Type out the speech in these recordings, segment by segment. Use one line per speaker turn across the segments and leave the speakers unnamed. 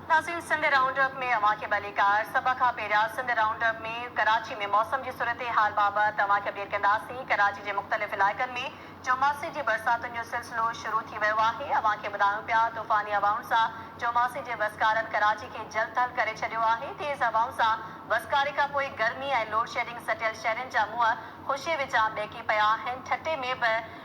ناظرين Sindh round up ۾ اوهان کي ڀليڪار. سڀ کان پهريان سنڌ رائونڊ اپ ۾ ڪراچي ۾ موسم جي صورتحال بابت اوهان کي اپڊيٽ ڪنداسين. ڪراچي جي مختلف علائقن ۾ چوماسي جي برساتن جو سلسلو شروع ٿي ويو آهي. اوهان کي ٻڌايون پيا طوفاني هوائن سان چوماسي جي وسڪارن ڪراچي کي جل ٿل ڪري ڇڏيو آهي. تيز هوائن سان وسڪاري کان پوء گرمي ۽ لوڊشيڊنگ سٽيل شهرين جا منهن خوشي وچان ٻهڪي پيا آهن. ٺٽي ۾ به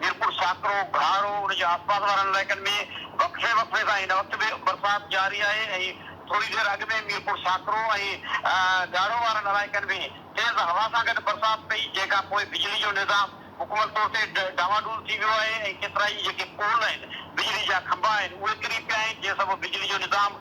ميرپور ساڪرو، گهاڙو ان جي آسپاس وارن علائقن ۾ وقفي وقفي سان هن وقت به برسات جاري آهي ۽ ٿوري دير اڳ ۾ ميرپور ساڪرو ۽ گهاڙو وارن علائقن ۾ تيز هوا سان گڏ برسات پئي جنهن کان پوء بجلي جو نظام مڪمل طور تي ڊانواڊول ٿي ويو آهي ۽ ڪيترائي جيڪي پول آهن بجلي جا کنڀا آهن اهي ڪري پيا آهن جنهن سبب بجلي جو نظام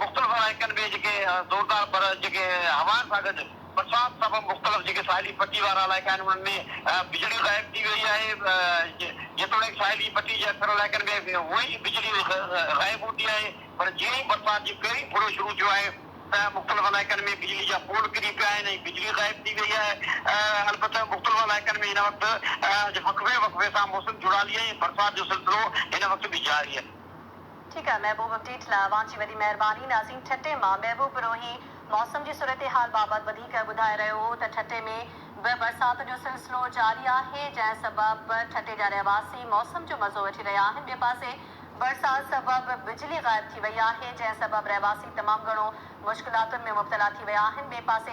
مختلف علائقن ۾ جيڪي زوردار پر جيڪي هوائن سان گڏ برسات سبب مختلف جيڪي ساحلي پٽي وارا علائقا آهن انهن ۾ بجلي غائب ٿي وئي آهي جيتوڻيڪ ساحلي پٽي جي اڪثر علائقن ۾ هونء ئي بجلي غائب هوندي آهي پر جيئن ئي برسات جي پهرين ڦڙو شروع ٿيو آهي ته مختلف علائقن ۾ بجلي جا پول ڪري پيا آهن ۽ بجلي غائب ٿي وئي آهي البته مختلف علائقن ۾ هن وقت وقفي وقفي سان موسم جهڙالي ۽ برسات جو سلسلو هن وقت به جاري آهي. ٺيڪ آهي
محبوب اپڊيٽ لاء اوهان جي وڏي مهرباني نازين ٺٽي مان محبوب پروهي موسم جي صورتحال بابت وڌيڪ ٻڌائي رهيو هو ته ٺٽي ۾ به برسات جو سلسلو جاري آهي جنهن سبب ٺٽي جا رهواسي موسم جو مزو وٺي رهيا آهن ٻئي پاسي برسات سبب بجلي غائب ٿي وئي آهي جنهن سبب رهواسي تمام گهڻو مشڪلاتن ۾ مبتلا ٿي ويا آهن ٻئي پاسي